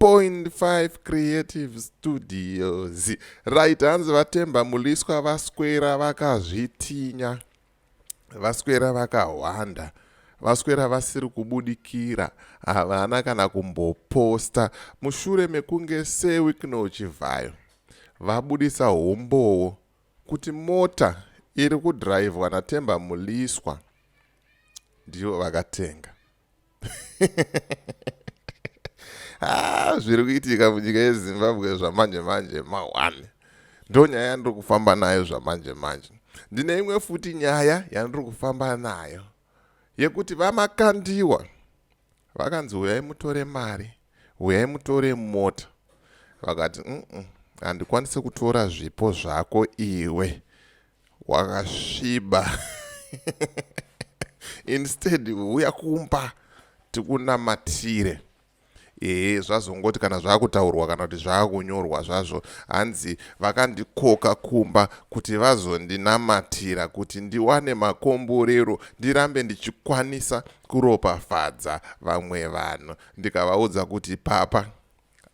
0.5 creative studios right hanzi vatemba muliswa vaswera vakazvitinya vaswera vakahwanda vaka vaswera vasiri kubudikira havana kana kumboposta mushure mekunge sewikno chivhayo vabudisa humbowo kuti mota iri kudhiraivhwa natemba muliswa ndivo vakatenga ah, zviri kuitika munyika yezimbabwe zvamanje manje mahwani ndo nyaya yandiri kufamba nayo zvamanje manje ndine imwe futi nyaya yandiri kufamba nayo yekuti vamakandiwa vakanzi huyai mutore mari huyai mutore mota vakati mm -mm, handikwanise kutora zvipo zvako iwe wakasviba instead huya kumba tikunamatire ehe zvazongoti kana zvaakutaurwa kana kuti zvaakunyorwa zvazvo hanzi vakandikoka kumba kuti vazondinamatira kuti ndiwane makomborero ndirambe ndichikwanisa kuropafadza vamwe vanhu ndikavaudza kuti papa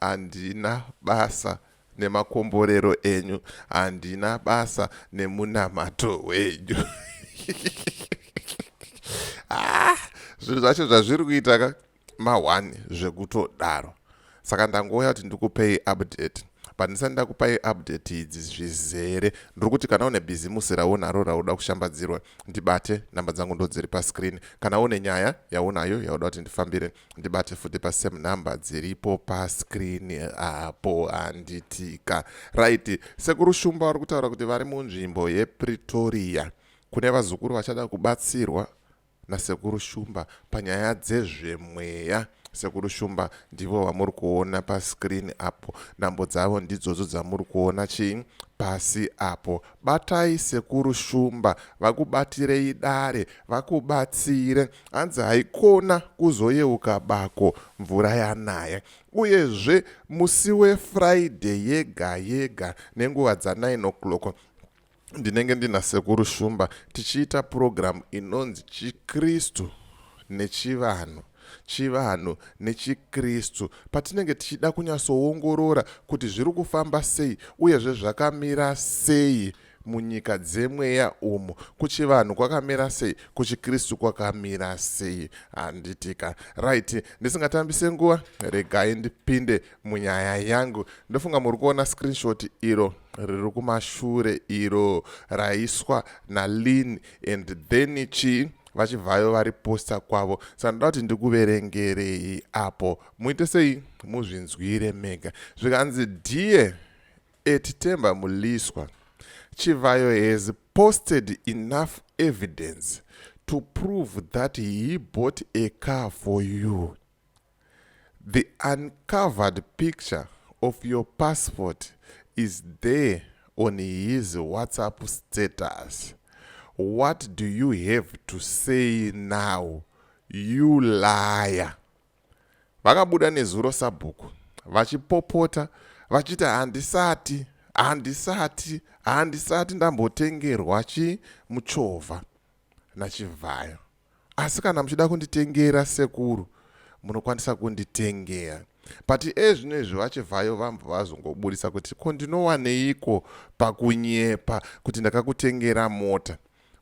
Handina basa nemakomborero enyu, handina basa nemunamato wenyu. ah, zvinhu zvacho zvazviri kuita ka mahwani zvekutodaro saka ndangouya kuti ndikupei update but ndisati ndakupai update idzi zvizere ndiri kuti kana une bhizimusi raunaro rauda kushambadzirwa ndibate namba dzangu ndodziri pascreen kana une nyaya yaunayo yauda kuti ndifambire ndibate futi pasame number dziripo pascreen apo handitika right sekuru shumba vari kutaura kuti vari munzvimbo yepretoria kune vazukuru vachada kubatsirwa nasekuru shumba panyaya dzezvemweya sekuru shumba ndivo vamuri kuona pascreen apo nhambo dzavo ndidzodzo dzamuri kuona chii pasi apo Batai sekuru Shumba vakubatirei dare vakubatsire hanzi haikona kuzoyeuka bako mvura yanaya. Uyezve musi weFriday yega yega nenguva dza 9 o'clock ndinenge ndina sekuru Shumba tichiita program inonzi Chikristu nechivanhu. chivanhu nechiKristu patinenge tichida kunyatsoongorora kuti zviri kufamba sei uyezve zvakamira sei munyika dzemweya umu kuchivanhu kwakamira sei kuchikristu kwakamira sei handitika right ndisingatambise nguva regai ndipinde munyaya yangu ndofunga muri kuona screenshot iro riri kumashure iro raiswa nalin and then chii vachibvayo vari posta kwavo saka ndoda kuti ndikuverengerei apo muite sei muzvinzwire mega zvikanzi die etitemba muliswa chivhayo has posted enough evidence to prove that he bought a car for you The uncovered picture of your passport is there on his WhatsApp status. What do you have to say now? You liar. Vakabuda nezuro sabhuku vachipopota vachiti handisati handisati handisati ndambotengerwa chi muchovha nachivhayo asi kana muchida kunditengera sekuru munokwanisa kunditengera but ezvino izvi vachivhayo vambva vazongoburitsa kuti ko ndinowaneiko pakunyepa kuti ndakakutengera mota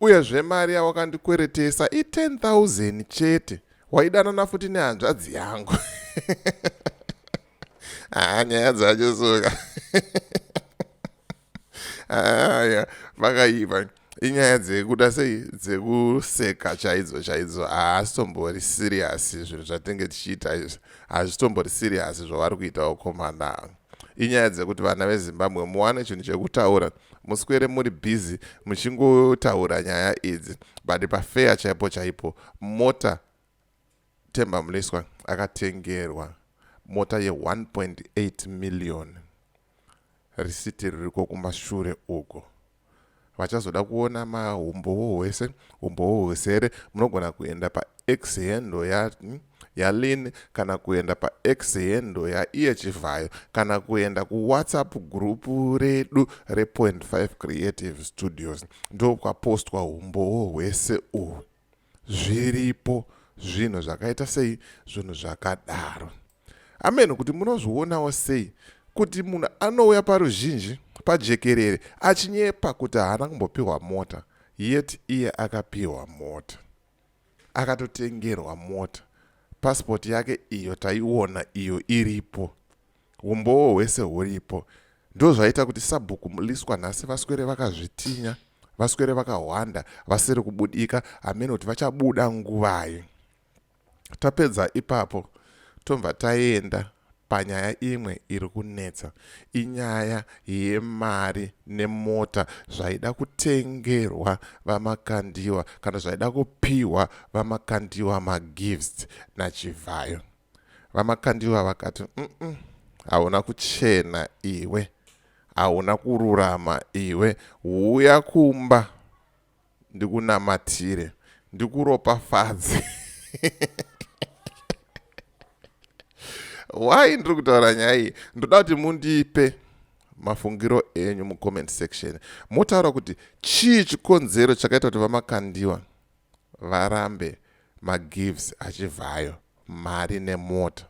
uyezve mari yawakandikweretesa i10000 chete waidanana futi nehanzvadzi yangu haa nyaya dzacho suka aya vakaiva inyaya dzekuda sei dzekuseka chaidzo chaidzo haasitombori siriyasi zvinhu zvatenge tichiita izvi hazvitombori siriyasi zvavari kuita ukomana inyaya dzekuti vana vezimbabwe muwane chinhu chekutaura muswere muri bhizi muchingotaura nyaya idzi but pafeya chaipo chaipo mota Themba Mliswa akatengerwa mota ye1.8 million risiti ririko kumashure uko vachazoda kuona mahumbowo hwese humbowo hwesere munogona kuenda pax hendo ya yalin kana kuenda pax hendo yaiye chivhayo kana kuenda kuwhatsapp group redu re 5 creative studios ndokwapostwa humbowo hwese uhu zviripo zvinhu zvakaita sei zvinhu zvakadaro ameno kuti munozvionawo sei kuti munhu anouya paruzhinji pajekerere achinyepa kuti haana kumbopiwa mota yet iye akapiwa mota akatotengerwa mota pasipoti yake iyo taiona iyo iripo Humbowo hwese huripo. Ndozvaita kuti sabhuku Mliswa nhasi vaswere vakazvitinya, vaswere vakahwanda, vasiri kubudika, hameno kuti vachabuda nguvai. Tapedza ipapo tobva taenda panyaya imwe iri kunetsa inyaya yemari nemota zvaida kutengerwa vamakandiwa kana zvaida kupiwa vamakandiwa magifts nachivhayo VaMakandiwa vakati, umm hauna kuchena iwe, hauna kururama iwe, huya kumba ndikunamatire, ndikuropafadze. Why ndiri kutaura nyaya iyi? Ndoda kuti mundipe mafungiro enyu mucomment section motaura kuti chii chikonzero chakaita kuti vamakandiwa varambe magives aChivhayo mari nemota.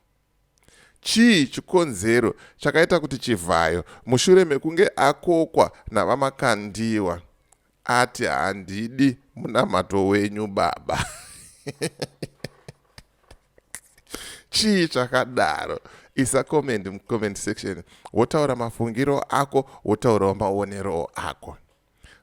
Chii chikonzero chakaita kuti Chivhayo mushure mekunge akokwa naVaMakandiwa ati handidi munamato wenyu baba? chii chakadaro isa comment mucomment section wotaura mafungiro ako wotaurawo maonerowo ako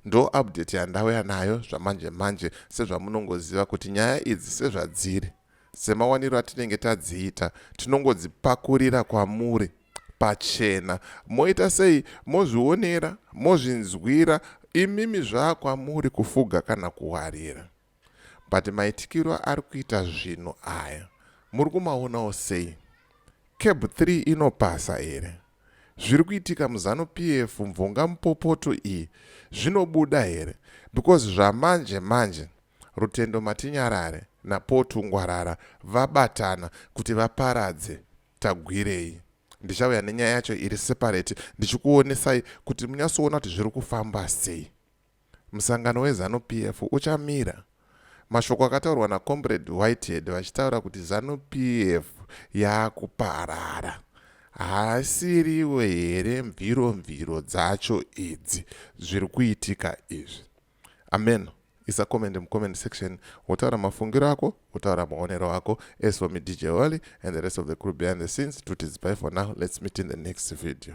Ndo update yandauya nayo zvamanje manje sezvamunongoziva kuti nyaya idzi sezvadziri semawaniro atinenge tadziita tinongodzipakurira kwamuri pachena moita sei mozvionera mozvinzwira imimi zvakwamuri kufuga kana kuwarira but maitikiro ari kuita zvinhu aya muri kumaonawo sei cab 3 inopasa here zviri kuitika muzanu p f mvonga mupopoto iyi zvinobuda here because zvamanje manje rutendo matinyarare napotu ngwarara vabatana kuti vaparadze tagwirei ndichauya nenyaya yacho iri separate ndichikuonesai kuti munyatsoona kuti zviri kufamba sei Musangano weZanu PF uchamira. Mashoko akataurwa naComrade Whitehead vachitaura kuti Zanu PF yakuparara haasiriwe here mviro mviro dzacho idzi zviri kuitika izvi amen isa comment mucomment section wotaura mafungiro ako wotaura maonero ako as for me dj wally and the rest of the crew behind the scenes tutizipai for now let's meet in the next video